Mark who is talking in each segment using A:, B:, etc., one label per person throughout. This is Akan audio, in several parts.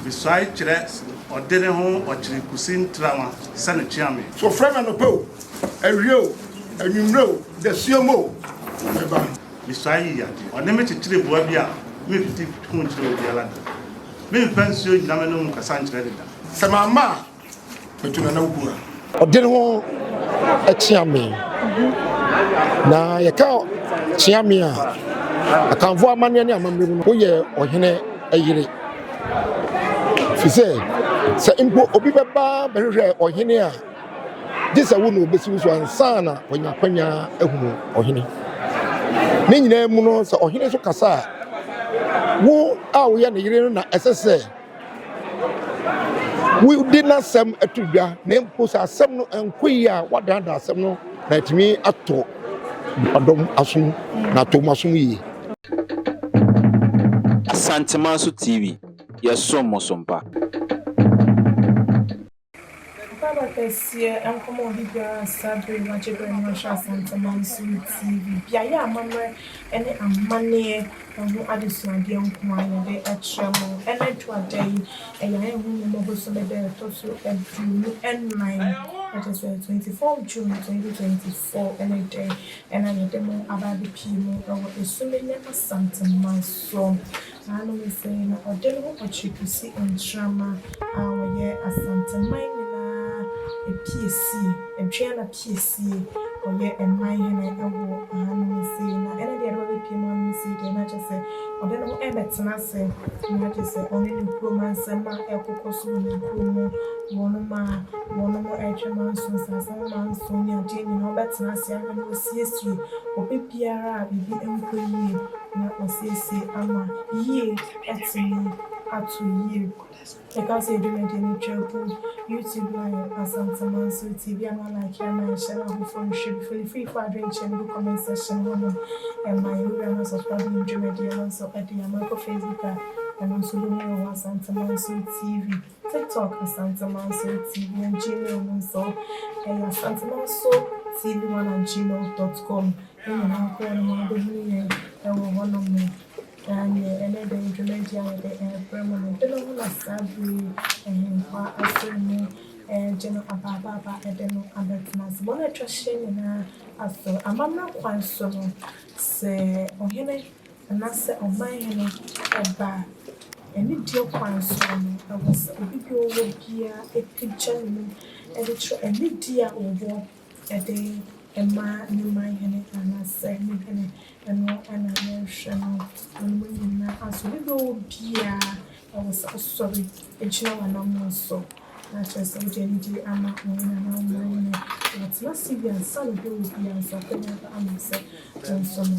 A: Visuae kyerɛ ɔde ne ho ɔkyere kosi ntrawa sɛ no kyea me. So frɛ me anɔpa o,
B: awia o, anwummerɛ o, dasuom o, na mɛba.
A: Visuae yi yɛ ade ɔne me kyekyere boa bi a memfiti ho nkyerɛ obiara da. Memfa nsuo nnyina m'anom nkasa nkyerɛ no da. Sɛ mamma a,
B: Ɔde ne ho
C: kyea me. Na yɛka kyea me a, akanfo amanneɛ ne amammerɛ mu no, woyɛ ɔhene yere. Ɛfiri sɛ, sɛ mpo obi bɛba bɛhwehwɛ ɔhene a, gye sɛ wo na ɔbɛsi wo so ansa na wanya akwanya ahunu ɔhene. Ne nyinaa mu no, sɛ ɔhene nso kasa a, wo a woyɛ ne yere no na ɛsɛ sɛ Wodi n'asɛm to dwa, na mpo sɛ asɛm no nkɔ yie a, wadannan asɛm no na atumi ato nnipadɔm asom, na ato wɔn asom yie.
D: Asantemanso TV, yɛsom mo so mpa.
E: Mpaaba kɛseɛ nkɔma obi biara a saa bere yi wagye bere na wahwɛ Asante Mansom TV, beaeɛ a amammerɛ ne amaneɛ ho adesuadeɛ nko ara na yɛde akyerɛ mo. Ɛna aduru ada yi, ɛyɛ ayɛ ho mmɔbɔ bosome da a ɛtɔ so aduonu nnan, ɛkyerɛ sɛ twenty four June twenty twenty four ne dɛ na yɛde mo aba abɛpie mu wɔ Esumenya Asante Mansom. Ɔtaa no mu sɛɛ na ɔde no ho ɔkyere kosi Ntrama a ɔyɛ Asanteman nyinaa apiesie, Adwiana piesie, ɔyɛ man hene wɔ ha no mu sei na ɛne deɛ ɛde bɛbɛpie mu ha no mu sei deɛ na kyerɛ sɛ ɔde ne ho ɛrebɛtena ase na kyerɛ sɛ ɔne ne kurom ansɛm a ɛrekokɔ so wɔ ne kurom mu, wɔnom a wɔnom ɛretwɛ manso nsaase ho manso ne adeɛ nyinaa ɔbɛtena ase ahwɛ na ɔsiesie obi biara a biribi nkɔ yie. na ɔsiesie ama yie atumi ato yie. Yɛka sɛ yɛde no deɛ no twa ku YouTube live Asanteman so TV a ma like a ma yɛnhyɛ na afoforɔ nhwɛ bi fo ne firi fo adwenkyerɛ no gu comment section hɔ nom ɛma yɛ wura na subscribe yɛn dwumadie no nso ɛde ama kɔ Facebook a ɛno nso wobɛhu yɛ wɔ hɔ Asanteman so TV. TikTok Asantemanso TV wɔ Gmail mu nso, ɛyɛ asantemanso TV one at gmail dot com. Ne nyinaa kɔ yɛn mu a, wobɛhunu yɛn wɔ hɔnom. Na neɛ ɛnnɛ da yi dwumadie a yɛde rebrɛ mo no, dwene ho na saa berɛ yi Ahenkwa Asɔre mu regye no abaabaaba de no abɛtena ase. Wɔn a atwa ahyia nyinaa asɔre amammerɛ kwan so no, sɛ Ɔhene. anaasɛ ɔmanhene ba a, anidie kwan soɔ no, ɛwɔ sɛ obi deɛ ɔwɔ biara pagya ne mu de kyerɛ anidie a ɔwɔ de ma ne manhene anaasɛ ne hene. Ɛno na yɛrehwɛ no. Wɔnom nyinaa nso, obi deɛ ɔwɔ biara, ɛwɔ sɛ ɔsɔre gyina wɔn anammɔn so na kyerɛ sɛ wode anidie ama wo hene anaa wo manhene. Watena ase wie ansa na obi a ɔwɔ biara nso akɔnya ba ama sɛ wo nso no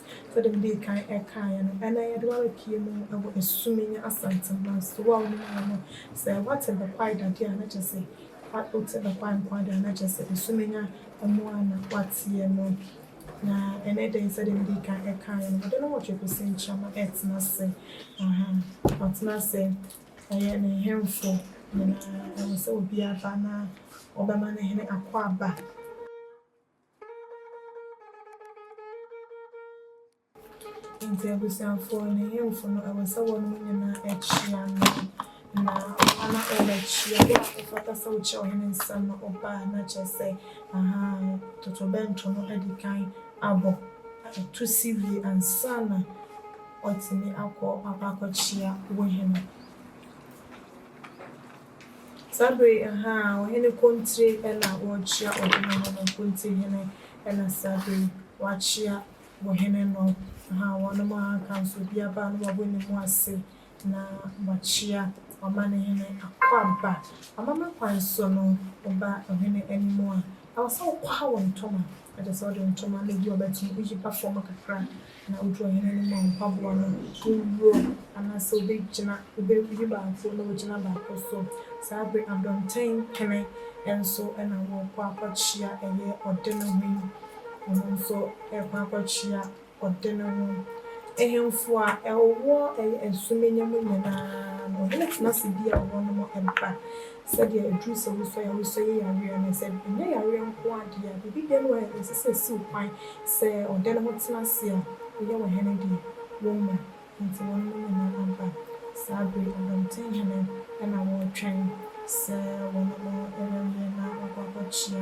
E: Sɛdeɛ medii kan kaeɛ no, ɛnnɛ yɛde wo abɛpue mu wɔ Asumenya Asante Mmaransɛm. Wo a wonim ha no, sɛ woate Bekwai dadeɛ a, na kyerɛ sɛ wote Bekwai nko ara deɛ a, na kyerɛ sɛ Asumenya mu ara na woateɛ no. Na ɛnnɛ da yi, sɛdeɛ medii kan kaeɛ no, ɔde nnɔnwɔtwe kɔsi nkyem retena ase. Aha, watena ase. Ɛyɛ ne nhemfo nyinaa, ɛwɔ sɛ obiara ba na wɔbɛma no hene akwaaba. Enti abusuafo ne nhemfo no, ɛwɔ sɛ wɔnom nyinaa kyia no, na ɔba no ɔbɛkyia no, a ɔfata sɛ wokyia ɔhene nsam no ɔba, na kyerɛ sɛ, aha, totorobɛnto no adi kan abɔ, na ɛto si wie ansa na watumi akɔ akɔ akɔkyia wo hene. Saa bere yi, ahaa, ɔhene Kontire na ɔrekyia ɔhene no no, Kontire hene na saa bere yi wakyia ɔhene no, ahaa, wɔnom ahaa ka nso obi aba a na wabɔ ne mu ase na wakyia ɔmanehene Akwaaba. Amammerɛ kwan so no, woba ɔhene anim a, ɛwɔ sɛ wokwaha wo ntoma, na kyerɛ sɛ wode wo ntoma no bi a wobɛto no woyipa fam kakra, Na odu ɔhene no mu a, mpaboa no, owuo, anaasɛ ɔbɛgyina, ɔbɛwuyi baako na wagyina baako so. Saa bere Abɔnten Kene nso na wɔrekɔ akɔkyea, ɛyɛ ɔde no ho yi, ɔno nso rekɔ akɔkyea ɔde no ho. Ahemfo a wɔwɔ ɛyɛ Nsumennya mu nyinaa no, ɔhene tena ase bi a wɔnom ba. Sɛdeɛ ɛduru sɛ wosɔ yare, wosɔ yɛ yareɛ a, na sɛ ɛnyɛ yareɛ nko ara deɛ a, biribi biara wɔ hɔ a ɛsɛ sɛ ɛsi wo kwan sɛ ɔda no ho tena ase a, woyɛ wo hene deɛ, womma. Enti wɔnom nyinaa aba. Saa bere yi, Ɔdɔmten Hene na wɔretwɛn sɛ wɔnom rewie na wɔakɔ akɔkyea.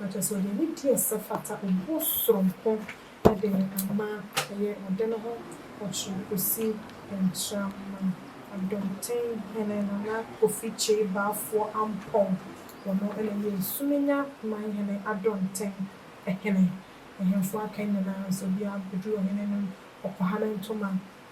E: na kyerɛ sɛ ɔde anidie a ɛsɛ fata obuo soronko de ama ɛyɛ ɔde no ho ɔkyerɛ kɔsi Ntraman Adɔmten Hene Nana Kofi Kyei Baafoɔ Ampɔn, ɔno na ɛyɛ Nsumenya Man Hene Adɔnten Hene, ahemfo aka nyinaa nso obiara bɛduru ɔhene anim kɔkɔhane ntoma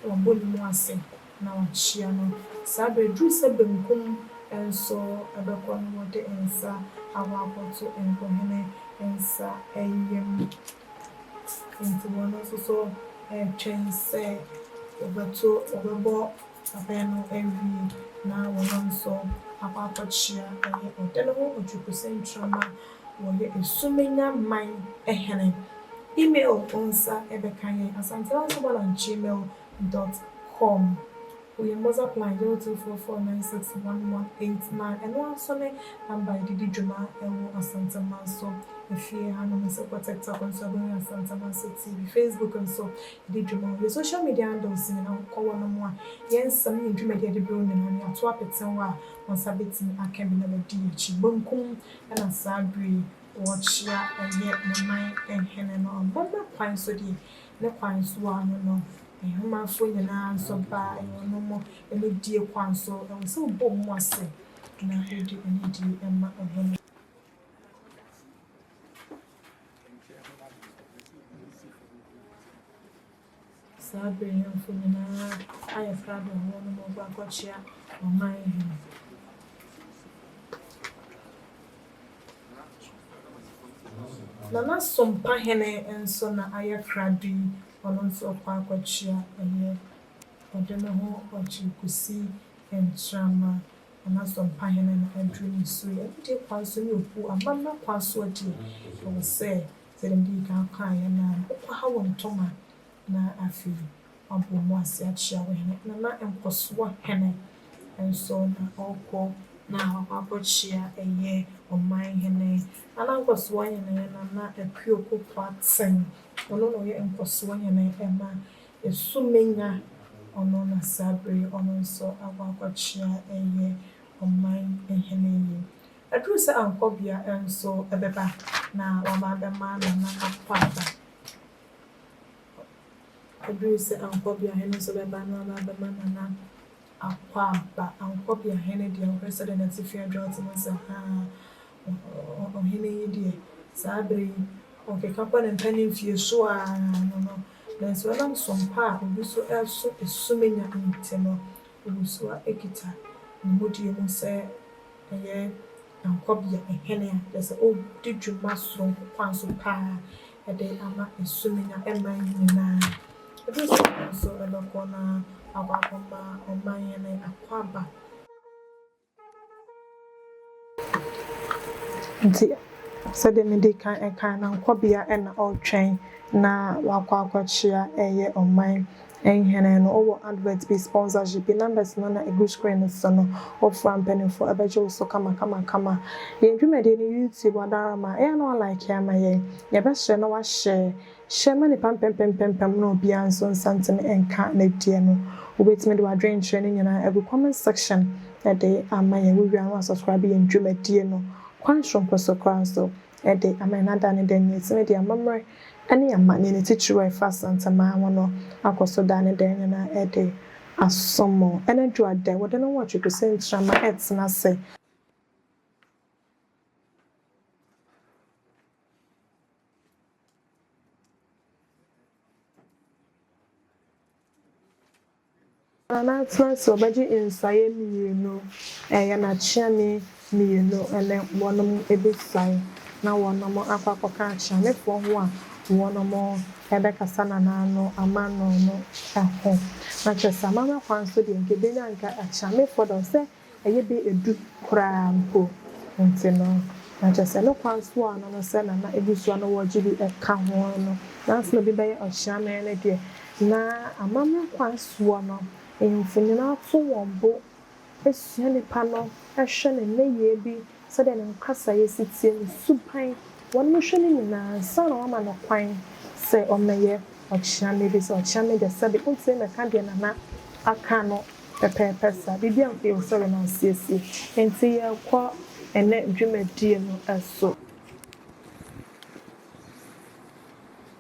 E: Wabɔ ne mu ase na wakyea no. Saa berɛ duru sɛ benkum nso bɛkɔ na wɔde nsa akɔ akɔto nkohene nsa yam. Enti wɔn nso so retwɛn sɛ wɔbɛto, wɔbɛbɔ abɛn no awie na wɔn nso akɔ akɔkyea. Ɛyɛ ɔde ne ho ɔtwekusɛntramma. Wɔyɛ Esumenya man hene. Email Wo nsa bɛka yɛn asantemansoman at gmail dot com Wo yɛn WhatsApp line zero two four four nine six one one eight nine Ɛno ara nso ne number a yɛde di dwuma wɔ Asanteman so Afie hanom nso kɔ TikTok nso a wobɛhu yɛn Asanteman so TV Facebook nso yɛdi dwuma wɔ yɛn social media handles nyinaa wokɔ hɔ nom a yɛn nsɛm ne yɛn dwumadi a yɛde brɛ wo nyinaa no yɛato apete hɔ a wo nsa bɛtumi aka bi na wadi yɛn akyi Bankum Ɛna saa bere yi wɔkyea ɛyɛ ne man hene no ɔbɔ no kwan so deɛ ne kwan so a ɔno no Ahemanfoɔ nyinaa nso ba ɛyɛ ɔno mo anidie kwan so ɛwɔ sɛ wobɔ wɔn mu ase na wode anidie ma ɔhene. Saa bere yi mfo nyinaa ayɛ frado ma wɔnom agu akɔkyea ɔman hene. Na n'asompa hene nso na ayɛ krado yi, ɔno nso ɔkɔ akɔkyea ɛyɛ ɔde ne ho ɔgye kosi nkyerama, na n'asompa hene na aduru ne so yi. Ɛno deɛ kwan so ne okuo, amammerɛ kwan so deɛ, ɛwɔ sɛ. Sɛdeɛ medii kan kaeɛ no, nkwaha wɔ ntɔma na afei wɔabɔ mu ase akyea wo hene. Na na nkɔsoɔ hene nso na ɔrekɔ na wakɔ akɔkyea ɛyɛ ɔman hene. Na na nkɔsoɔ hene yɛ Nana Akuo Kokoatsen. Ɔno na ɔyɛ nkɔsoɔ hene ɛma Esumenga. Ɔno na saa berɛ yi ɔno nso akɔ akɔkyea ɛyɛ ɔman hene yi. Aduru sɛ Ankɔbea nso bɛba na wama abɛma Nana akɔ aba. Aduru sɛ Ankɔbea hene nso bɛba na wama abɛma Nana akɔ aba. Ankɔbea hene deɛ wohwɛ sɛdeɛ n'atifi adwo ate no sɛ haa ɔhene yi deɛ saa berɛ yi ɔkeka kɔ ne mpanimfie so ara no no nanso ɛnam som pa a obi so reso Esumenya nti no ɔwɔ su a ɛkita ne mudie mu sɛ Ɛyɛ aguabea hene a kyerɛ sɛ ɔdi dwuma soronko kwan so paa de ama Sumenna man nyinaa. Ɛduru saa bere no nso ɛbɛkɔ na wakɔ akɔma ɔman hene akwaaba. Nti sɛdeɛ mede kan ɛkae no aguabea na ɔretwɛn na wakɔ akɔkyea ɛyɛ ɔman Nhene no ɔwɔ advert bi sponsorship yi numbers no na egu screen no so no wofra mpaninfoɔ ɛbɛgye wo so kama kama kama yɛn dwumadie no YouTube ɔdarama ɛyɛ a na wa like ama yɛn yɛbɛsrɛ na wa share share ma nipa mpempempempem na obiara nso nsa ntumi nka ne deɛ no wobɛtumi de wadwenkyerɛ no nyinaa agu comment section de ama yɛn wowie a na wa subscribe yɛn dwumadie no kwan soronko so koraa nso de ama yɛn ada ne dɛn adi ne deɛ amammerɛ ne amanneɛne titiriw a ɛfa Asanteman ho no akɔ so da ne dɛn nyinaa de asom. Anadwo a dɛ wɔde no nwɔtwe to sɛ ntrama retena ase. Na n'atena ase wɔbɛgye nsaeɛ mmienu, ɛyɛ n'akyeame mmienu ne wɔnom bɛsiane na wɔnom akɔ akɔka akyeamefoɔ ho a wɔnom bɛkasa nanaa no amano no ho. Na kyerɛ sɛ amammerɛ kwan so deɛ nka ɛbɛnya nka akyeamefoɔ dɔm sɛ ɛyɛ bɛ edu koraa mpo nti no, na kyerɛ sɛ ne kwan so a ɔno no sɛ na na abusua no wɔ gye bi ka ho no, nanso na bi bɛyɛ ɔkyeame no deɛ, na amammerɛ kwan soɔ no, ahemfo nyinaa to wɔn bo sua nipa no, hwɛ ne nneyɛɛ bi sɛdeɛ ne nkasaeɛ si teɛ, ne suban, wɔnom hwɛ no nyinaa ansa na wɔama no kwan sɛ ɔmmɛyɛ ɔkyeame, ɛfiri sɛ ɔkyeame deɛ sɛbe ɔntumi mmɛka deɛ Nana aka no pɛpɛɛpɛ saa, biribiara mpo yɛwɔ sɛ yɛnom asiesie. Enti yɛrekɔ ɛnnɛ dwumadie no so.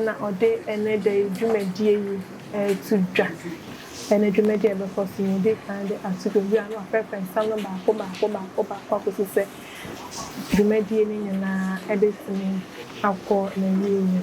E: na ɔde ɛnnɛ da yi dwumadie yi reto dwa. Ɛnnɛ dwumadie a ɛbɛkɔ so no, ɔdii kan de ato dwa, ɔwura no afrɛfrɛ nsɛm no baako baako baako baako akɔsi sɛ dwumadie no nyinaa bɛtumi akɔ n'awieeɛ.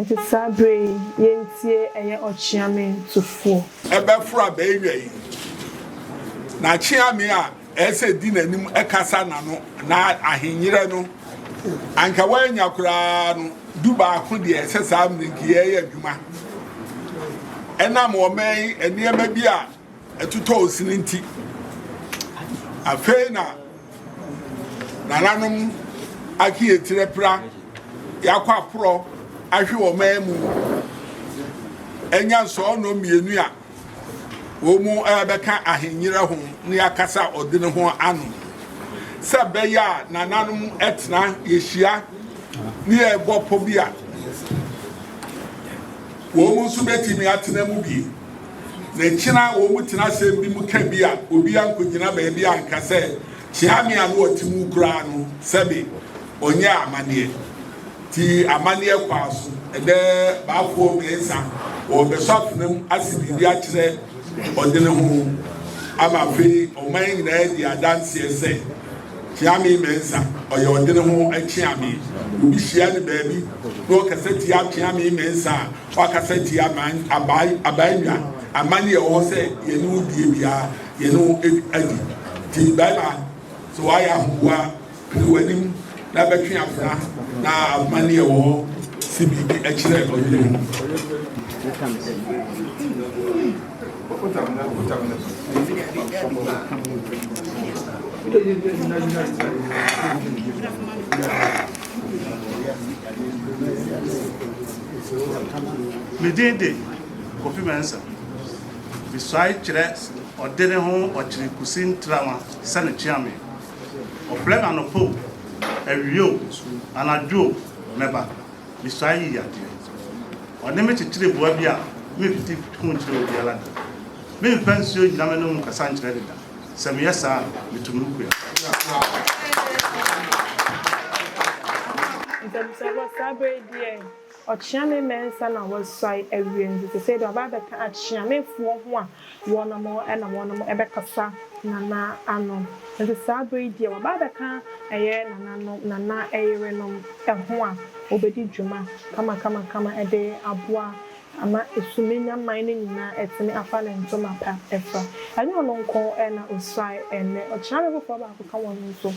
E: Nti saa berɛ yi yɛntie ɛyɛ ɔkyeame tufoɔ. Ɛbɛforo a bɛɛwia
B: yi na kyeame a. Ɛsɛ di n'anim kasa na no na ahenyerɛ no anka wanya koraa no du baako deɛ ɛsɛ saa mmirenkiyɛ yɛ adwuma ɛnam ɔman yi nneɛma bi a ɛtotɔ osini nti afei na nananom ake yɛtirɛ pra yɛakɔ aporɔ ahwe ɔman mu ɛnya sɔɔ nɔ mmienu a wɔrebɛka ahennyera ho ne akasa ɔde ne ho ano sɛ ɛbɛyɛ a nananom tena yɛhyia ne yɛbɔ pɔ bi a wɔn nso bɛtumi atena mu bi na kyena wɔn tena asɛm bi mu ka bi a obi ankɔgyina baabi a nka sɛ kyea me a no ɔte mu koraa no sɛbe ɔnyɛ amanneɛ Ti amanneɛ kwaa so ɛdɛ baakoɔ mmiɛnsa wɔrebɛsɔ afena mu ase biribi akyerɛ ɔdene ho ama afei ɔman nyinaa di adanseɛ sɛ Kyeame Mɛnsa ɔyɛ ɔdene ho kyeame. Obi hyia no baabi na ɔkasa tia Kyeame Mɛnsa a wakasa tia abaanwa amanneɛ ɛwɔ hɔ sɛ yɛne wo die biara yɛne wo adi ti bɛrima sɛ wayɛ ahoboa Hwɛ w'anim na bɛtwe afra na ahoma ne ɛwɔ hɔ si biribi kyerɛ ɔyere ho.
A: Me din de Kofi Mensah. Mesuae kyerɛ ɔde ne ho ɔkyere kusi ntrawa sɛ ne kyeame. Ɔfrɛ no anɔpa o, awia o, anadwo o, mɛba. Misuae yii adeɛ. Ɔne me kyekyeree boa bi a memfiti ho nkyerɛɛ obiara da. Memfa nsuo nnyina m'anom nkasa nkyerɛ no da. Sɛ meyɛ saa a, metu me kua. Ntɛmsɛɛ ba, saa berɛ
E: yi deɛ. Ɔkyea me mɛnsa na wɔasuae awie nso sesei deɛ ɔba abɛka akyea mefoɔ ho a wɔnom na wɔnom bɛkasa Nana ano nti saa berɛ yi deɛ wɔba abɛka ɛyɛ Nana nom Nana yerenom ho a wɔbɛdi dwuma kamakamakama de aboa ama Suminya man no nyinaa atumi afa ne ntoma pa afira. Ɛnyɛ ɔno nko na ɔsuae ɛnnɛ ɔkyea me foforɔ baako ka wɔnom nso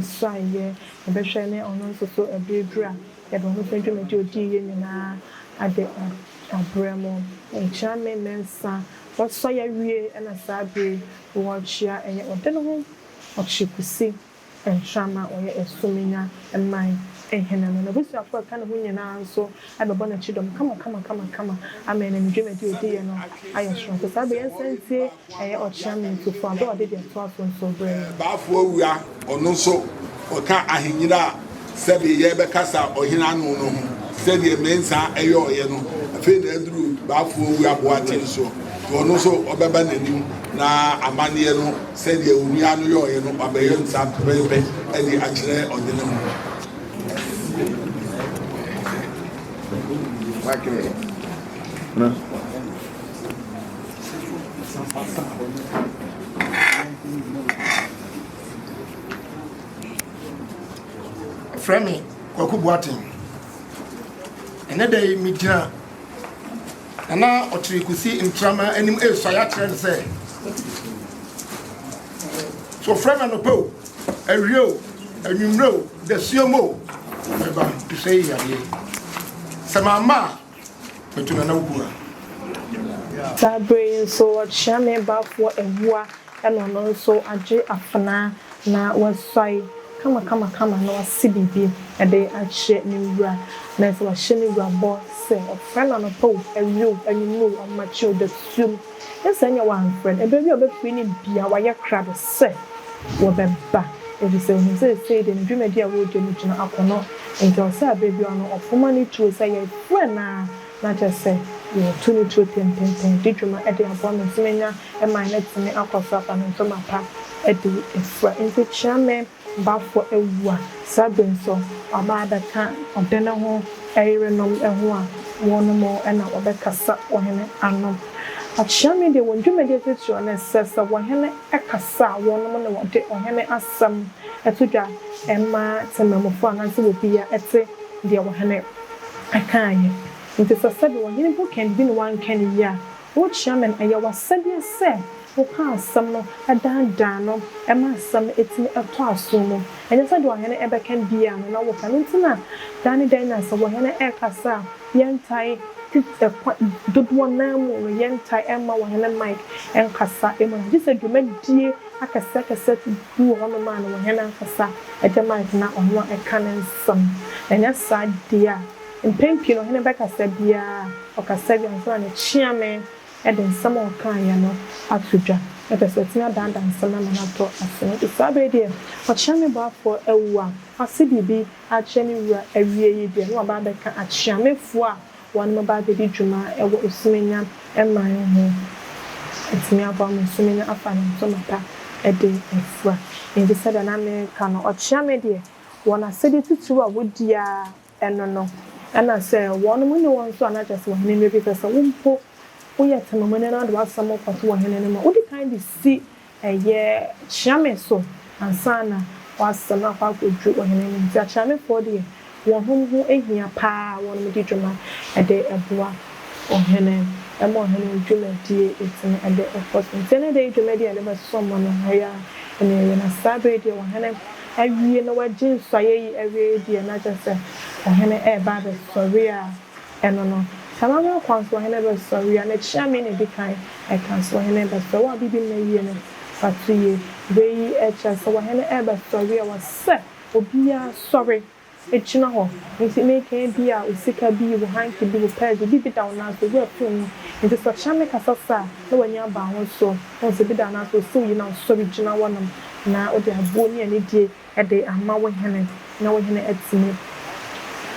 E: suaeɛ yɛbɛhwɛ ne ɔno nso so berɛ duru a Yɛde wɔn sɛ dwumadi a odi yɛ nyinaa ade ɔbrɛ mu. Nkyea me ne nsa wɔsɔ yɛ wie na saa bere yi wɔrekyea ɛyɛ ɔde no ho ɔkye kusi ntrama ɔyɛ asuminya man hene no n'abusuafo a ɛka ne ho nyinaa nso bɛbɔ no kyidɔm kama kama kama kama ama ɛnam dwumadi a odi yɛ no ayɛ soronko saa bere yi nsantie Ɛyɛ ɔkyea me nso fua bɛ ɔde deɛ toa so nso brɛ me. Baafoɔ wura
B: ɔno nso ɔka ahenyina a sɛdeɛ yɛrebɛkasa ɔhene ano no ho sɛdeɛ Mensah ɛyɔɔeɛ no afei na aduru Baafoɔ wura Boaten soɔ nti ɔno nso ɔbɛba n'anim na amanneɛ no sɛdeɛ onua no yɔɔeɛ no wabɛyɔ no saa pɛpɛɛpɛ ɛde akyerɛ ɔde ne ho
C: Wakyerɛ. Frɛ me Kwaku Boateng. Ɛnɛ da yi megyina Nana Ɔkyere Kusi Ntrama anim resuae akyerɛ no sɛ so frɛ me anɔpa o awie o anwummerɛ o dasuom o mɛba nso ɛyɛ yadeɛ sɛ mamma a Mɛto na na wobua. Saa berɛ yi
E: nso wɔkyea me baafoɔ awua na ɔno nso agye afenaa na wasuae kamakamakama na wasi biribi de akyɛ ne wura. Na sɛ wahyɛ ne wura bɔ sɛ ɔfrɛ no anɔpa o, awia o, anwummerɛ o, ɔmmakye o, dasuom, Sɛ nnyɛ wɔamfrɛ no, ɛbɛwie a wɔbɛfiri no bia wɔayɛ krado sɛ wɔbɛba efisɛ wɔhu sɛ seesei deɛ ne dwumadi a wɔredi no gyina akɔnnɔ nti ɔsɛ a berɛ biara no ɔfoma ne tuo sɛ yɛfrɛ no a na kyerɛ sɛ yɛretu ne tuo tententen di dwuma de aboa ma tumi nya mman na tumi akɔ so afa ne ntoma pa de fira. Nti Kyeame. bafo awu a, sɛ bi nso ɔba abɛka ɔde ne ho yerenom ho a, wɔnom na wɔbɛkasa ɔhene ano. Akyea Media wɔn dwumadie titiriw ne sɛ, sɛ ɔhene kasa a, wɔnom na wɔde ɔhene asɛm to dwa ma temamufoɔ anaasɛ wɔbia te deɛ ɔhene kaeɛ. Nti sɛ sɛbi ɔhene bu kɛn bibi na wɔanka no yie a, O Chairman, ɛyɛ w'asɛdeɛ sɛ woka asɛm no dandan no ma asɛm no atumi atɔ asom mu. Ɛnyɛ sɛ deɛ ɔhene ɛbɛka biaa no na wo ka. Ɛno nti na da ne da nyinaa sɛ ɔhene ɛkasa a yɛntae put ɛkwa dodoɔ no ara mu no yɛntae ɛmma ɔhene mic nkasa mu no. Gye sɛ dwumadie akɛseɛ akɛseɛ te bi wɔ hɔ nom a na ɔhene ankasa ɛgye mic na ɔno ɛka ne nsɛm. Ɛnyɛ saa deɛ a. Mpɛn pii no ɔhene bɛkasa biara a, ɔkasa wie ansa na ne kyeame de nsɛm a ɔkaeɛ no ato dwa. Ɛfiri sɛ ɔtumi adaadaa nsɛm no ama no atɔ ase. Nanso saa berɛ yi deɛ, ɔkyeame boafoɔ awu a wase biribi akyerɛ ne wura awie yi deɛ, na waba abɛka akyeamefoɔ a wɔbɛba abɛdi dwuma wɔ Osumennya man ho. Atumi aboa ma Osumennya afa ne ntoma pa de afura. Enti sɛdeɛ na mereka no, ɔkyeame deɛ, wɔn asɛdeɛ titiriw a wɔdi ara Ɛno no, ɛna sɛ wɔnom ne wɔn nso a na kyerɛ sɛ ɔhene no bi pɛ sɛ wo mpo woyɛ temamuni na wode w'asɛm kɔto ɔhene no mu a, wodi kan de si ɛyɛ kyeame so ansa na w'asɛm akɔ akɔduru ɔhene no anim. Nti akyeamefoɔ deɛ wɔnom ho hia paa a wɔnom di dwuma de boa ɔhene ma ɔhene no dwumadie tumi de kɔ so. Nti ɛnɛ da yi dwumadie a yɛde bɛsɔ mo no, ɛyɛ a ɛnɛ yɛwie na saa berɛ yi deɛ ɔhene awie na wagye nsɔeɛ yi awie deɛ na kyerɛ sɛ ɔhene reba abɛsɔre a, ɛno no, saa ara na kwan so ɔhene bɛsɔre a, n'akyia me na ɛdi kan ɛka sɛ ɔhene rebɛsɔre. Wo a biribi nna yie no, fa to yie. Wei kyerɛ sɛ ɔhene rebɛsɔre a, ɛwɔ sɛ obiara sɔre. Gyina hɔ. Enti meka ebi a wo sika bi, wo hanky bi, wo pɛɛs bi, biribi da wo nan so, wo apue mu. Enti sɛ ɔkyena me kasa sa a, na w'ani aba wo so. Wohu sɛ ebi da wo nan so, osiw yi na wosɔre gyina hɔnom na wode aboɔ ne anidie de ama wo hene na wo hene atumi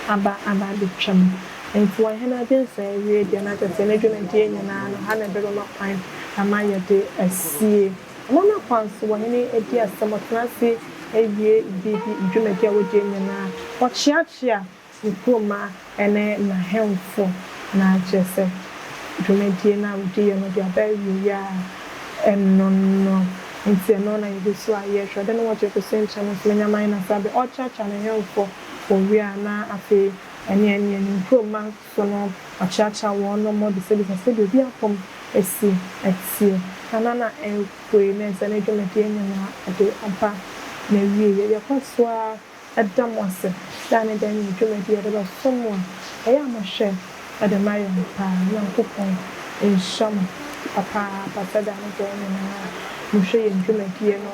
E: aba aba abɛtwa mu. Enti wɔn hene agye nsɔe awie deɛ, na kyerɛ sɛ ne dwumadie nyinaa no, ha na ɛbɛma kwan ama yɛde asie. Wɔn akwan so wɔ hene adi asɛm ɔtena ase awie biribi dwumadi a wɔdi nyinaa ɔkyeakyea ne kuromma ne n'ahemfo na kyerɛ sɛ dwumadie no a wɔdi yɛ no de aba awieɛ a ɛno no nti ɛno na yɛdi so a yɛhwɛ ɔde no wɔ gyefo so nkyɛn no ntumi nyɛ man na saa bɛ ɔkyeakyea n'ahemfo wɔ wie a na afei ɛne ɛneɛ ne nkuromma So no akyeakyea wɔn no mmɔ de sɛbisa sɛdeɛ obi apɔm asi atie anaa na ɛrepue na ɛsɛ ne dwumadie nyinaa ɛde aba n'awieɛ. Yɛkɔ so ara da mo ase da ne da nya dwumadie a ɛde bɛsom mo a ɛyɛ a mohwɛ de ma yɛn pa ara. Nyankopɔn nhyira mo papaapa sɛ da ne da nyinaa mohwɛ yɛn dwumadie no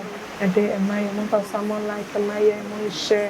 E: de ma yɛn. Momfa so ara mo like ma yɛn, monhyɛ.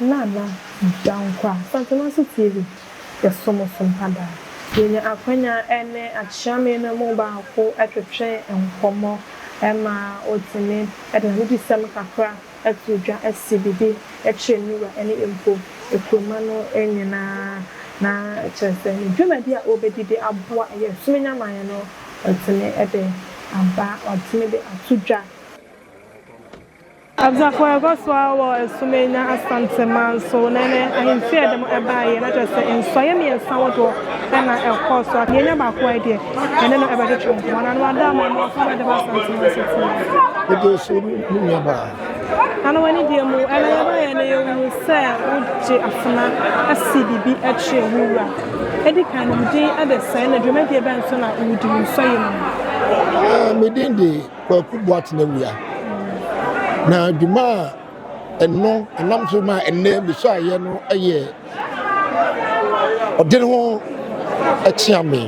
E: Nana Dankwa, Asante Masi TV, yɛsom wo so mpa daa. Yɛanya akwanya ne Akyeame no mu baako twetwe nkɔmmɔ ma ɔtumi de n'anigyeɛsɛm kakra to dwa si biribi kyerɛ ne wura ne mpo kuroma no nyinaa na kyerɛ sɛ ne dwumadi a ɔbɛdi de aboa yɛn som nyaman no watumi de aba, watumi de ato dwa. Asafo a ɛkɔ so ara wɔ Sumenya Asante man so na ɛne ahemfie a ɛde mo baeɛ, na kyerɛ sɛ nsuaeɛ mmiɛnsa ahodoɔ na ɛkɔɔ so. Afei yɛanya baako a ɛdeɛ yɛne no bɛtwetwe nkɔmmɔ. Nana Ado ama yɛn mmoa kwan de ba Asante man so fie. Ɛdeɛ so
C: no mo nua baa. Nana w'ani
E: deɛ mu ɛna yɛbaeɛ no yɛhunu sɛ wogye afena asi biribi akyerɛ wo wura. Ɛdi kan no wo din ɛde sɛn na dwumadie bɛn so na wodi wo nsɔeɛ no mu? Me
C: din de Kwaku Boateng awia, na dwuma a ɛno ɛnam so ma ɛnnɛ mesuaeɛ no yɛ ɔde ne ho kyeame.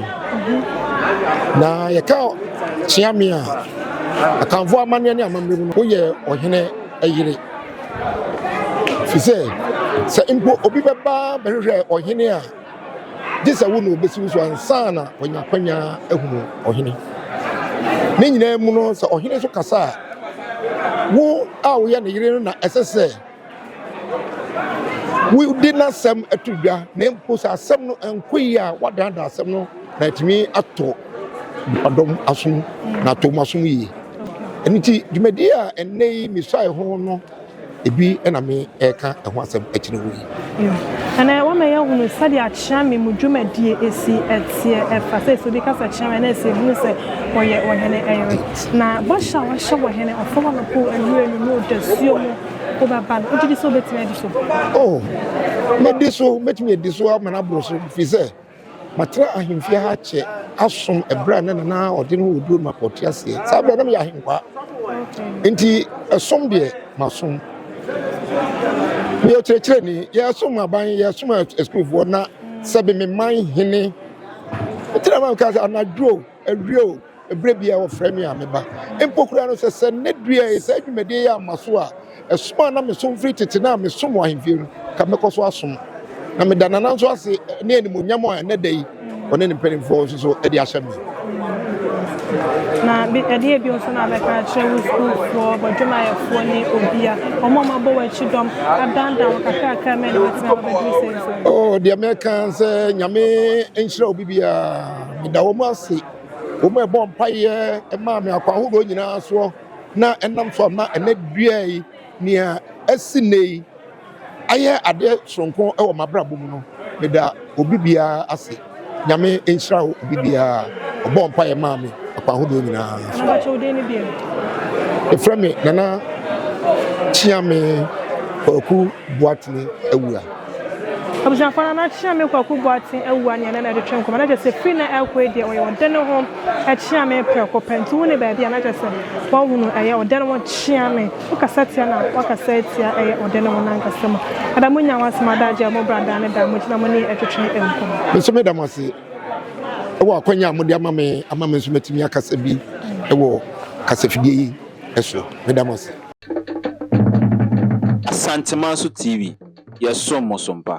C: Na yɛka kyeame a, Akanfoɔ amanneɛ ne amammerɛ mu no, woyɛ ɔhene yere. Ɛfiri sɛ, sɛ mpo obi bɛba bɛhwehwɛ ɔhene a, gye sɛ wo na obesi wo so ansa na wanya akwanya ahunu ɔhene. Ne nyinaa mu no, sɛ ɔhene nso kasa a, wo a woyɛ ne yere no na ɛsɛ sɛ wode n'asɛm to dwa, na mpo sɛ asɛm no nkɔ yie a, woadaadaa asɛm no na atumi atɔ nipadɔm asom na atɔ wɔn asom yie. Ɛno nti, dwumadi a ɛnnɛ yi mesuae ho no Ebi na me reka ɛho asɛm akyerɛ wo yi. Ɛnɛ wama
E: yɛahunu sɛdeɛ akyeame mu dwumadie si teɛ ɛfa sɛ sɛ obi ka sɛ kyeame a na ɛsɛ hunu sɛ ɔyɛ ɔhene yere. Na bɔhyɛ a wahyɛ wɔ hene Ɔfɔwanopo awura no ne ɔdasuo mu wobɛba no, wogye di sɛ wobɛtumi adi so? Oh,
C: mɛdi so, mɛtumi adi so ama no aboro so, ɛfiri sɛ. Matena ahemfie ha kyɛ asom ɛberɛ a na Nana Ɔden wɔ Oduro ma ɔte aseɛ. Saa berɛ na meyɛ ahenkwaa. Nti ɛsom deɛ masom. Meyɛ ɔkyerɛkyerɛni. Yɛsom aban, yɛsom asukuufoɔ na sɛbe me man hene. Ɛtena ma meka sɛ anadwo. Awiei o, bere biara wɔfrɛ me a meba. Mpo koraa no, sɛ sɛ nnɛ dua yi, saa dwumadi yi amma so a, som a na mesom firi tete no a mesom wɔ ahemfie no, nka mɛkɔ so asom. Na meda Nana nso ase ne animuonyam a ɛnnɛ da yi ɔne ne mpanimfoɔ nso so de ahyɛ me. Na ɛdeɛ
F: bio nso na abɛka akyerɛ wo sukuufoɔ, bɔdwumayɛfoɔ ne obia, wɔn a wɔabɔ w'akyi dɔm, adandan wo kakrakra mɛ na
C: wɔatena abɛduru sɛn so? Oh, deɛ mɛka sɛ Nyame nhyira obi biara. Meda wɔn ase, wɔn a ɛbɔɔ mpaeɛ maa me akwan ahodoɔ nyinaa soɔ na ɛnam so ama ɛnɛ dua yi, nea asi nnɛ yi, ayɛ adeɛ soronko wɔ m'abrabɔ mu no. Meda obi biara ase. Nyame nhyira wo obi biara a ɔbɔɔ mpaeɛ maa me akwan ahodoɔ nyinaa soɔ. Yɛfrɛ me Nana Kyeame Kwaku Boatene Awuah. Abusuafo
F: no na Kyeame Kwaku Boateng awu a nea na ɛde twe nkɔmmɔ no kyerɛ sɛ firi na ɛrekɔ yi deɛ ɔyɛ ɔde ne ho Kyeame prɛko pɛ nti wone baabi a na kyerɛ sɛ wahunu ɛyɛ ɔde ne ho Kyeame wokasa tia na wakasa atia ɛyɛ ɔde ne ho nankasa mu ɛda mo nya ho asɛm ada agya mo bra daa ne da mo gyina mo ne yɛn ɛtwetwe nkɔmmɔ. Me nso meda mo ase
C: ɛwɔ akwanya a mode ama me ama me nso matumi akasa bi ɛwɔ kasafidie yi ɛso meda mo ase.
D: Asanteman so TV, yɛsom mo so mpa.